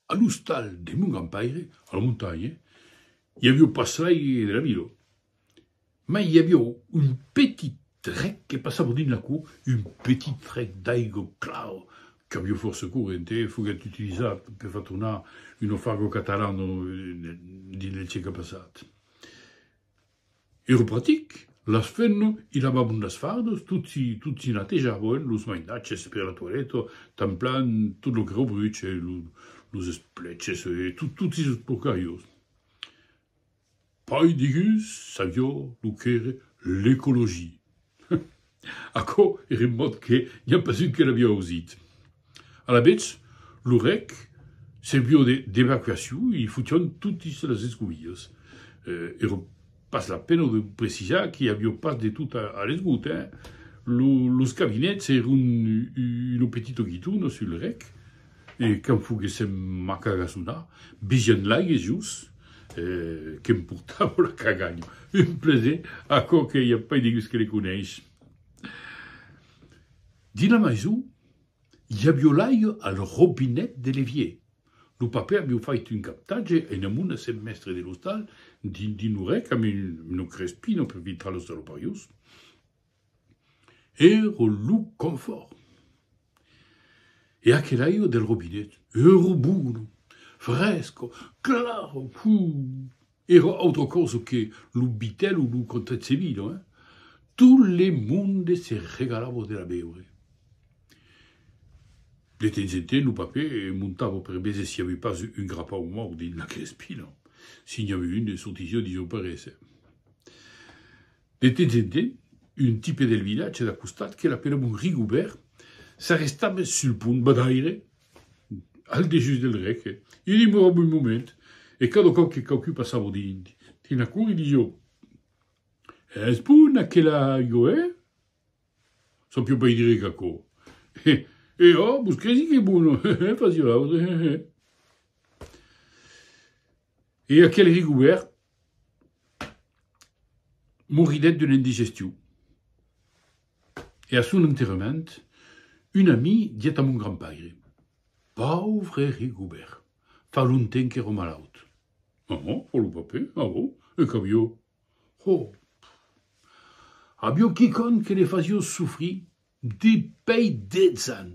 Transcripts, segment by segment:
A l'ostal de mon grand-paire, a la montanha, i avió pas sair de la vila, mai i avió un petit rec que passava dins la cour, un petit rec d'aigo clau qu'avió fòrça corrent e foguèt utilizat per far tornar un naufrago catalan dins del siecle passat. Ero pratic, las fenno i lavabon las fardos, tot si tot si natejaboen los mainatges per la toileta, tanplan tot lo que rebruche, lo los espleches e tot tot si sos porcariós. Pai deguns savió lo qu'ère l'ecologia. Aquò ère un mot que n'i a pas un que l'aviá ausit. Alavetz, lo rèc serviu d'evacuacion e i fotión totis las escovilhas. Ère pas la pena de precisar qu'i avió pas de tot a l'esgot, hein! Los cabinets èron un petito guitona sul rèc, E quand foguèssem a cagasonar, vigent l'aigue jos, que'm portava la caganha. Un plaser, aquò que i a pas de gus que le coneis. Dins la maison, i avió l'aigue al robinet de l'evier. Lo papè avió fait un captatge e una mona s'es mèstre de l'ostal dins lo rec amb una crespina per filtrar los salopariós. Ero lo confòrt. E aquel'aire del robinet ero bono, fresco, claro, puh! Ero autra cosa que lo Bitel o lo Contezzevino, eh! Tot le monde se regalava de la beure. De temps en temps lo papè montava per veser s'i avi pas un grapau mòrt dins la crespina. Si n'i avi un, sortissiá dins lo parese. De temps en temps, un tipe del vilatge d'a costat que l'apelavan Rigobèrt s'arrestava sul pont badaire al dejús del rec e demorava un moment e cada còp que quauqui passava dins dins la cour i disiá, Es bon aquela aiga, eh? Sapiá pas dire qu'aquò. E e a, vos cresi qu'es bona? Hehe, fasiá l'autre, hehe. E aquel Rigobèrt moridèt d'una indigestion. E a son enterrament, un ami diguèt a mon grandpaire, Pauvre Rigobèrt, fa longtemps qu'èro malaut. Aha, fa lo papè, aho, e qu'avió? Ho! Avió quicòm que le fasió sofrir depèi 10 ans!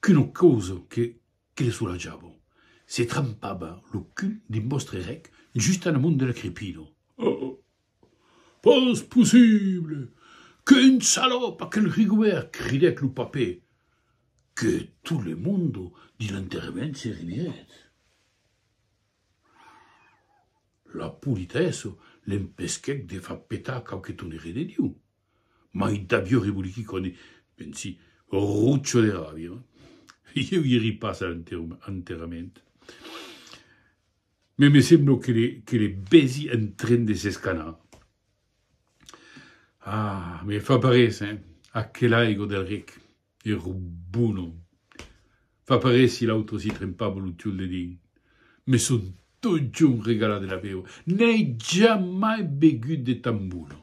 qu'una causa que que le solatjava, se trampava lo cul dins vòstre rec just en amont de la crepida. Oh! Pas possible! Qu'un salòp aquel Rigobèrt! cridèt lo papè, que tot le monde dins l'enterrament se ririguèt. La politèssa l'empesquèt de far petar quauque tonnerre de Diu. Mai d'aviò reboliqui quan e pensi, rocho de ràbia. Ieu ieri pas a l'enterrament. Mai me semblo que le bèsi en tren de s'escanar. Ah, me fa parés, hein, aquel aigo del rec. e robonon. Fa parer si l'autre si trempava lo tiol de dins. Me son totjorn regalat de la beure, n'ai jamai begut de tan bonon.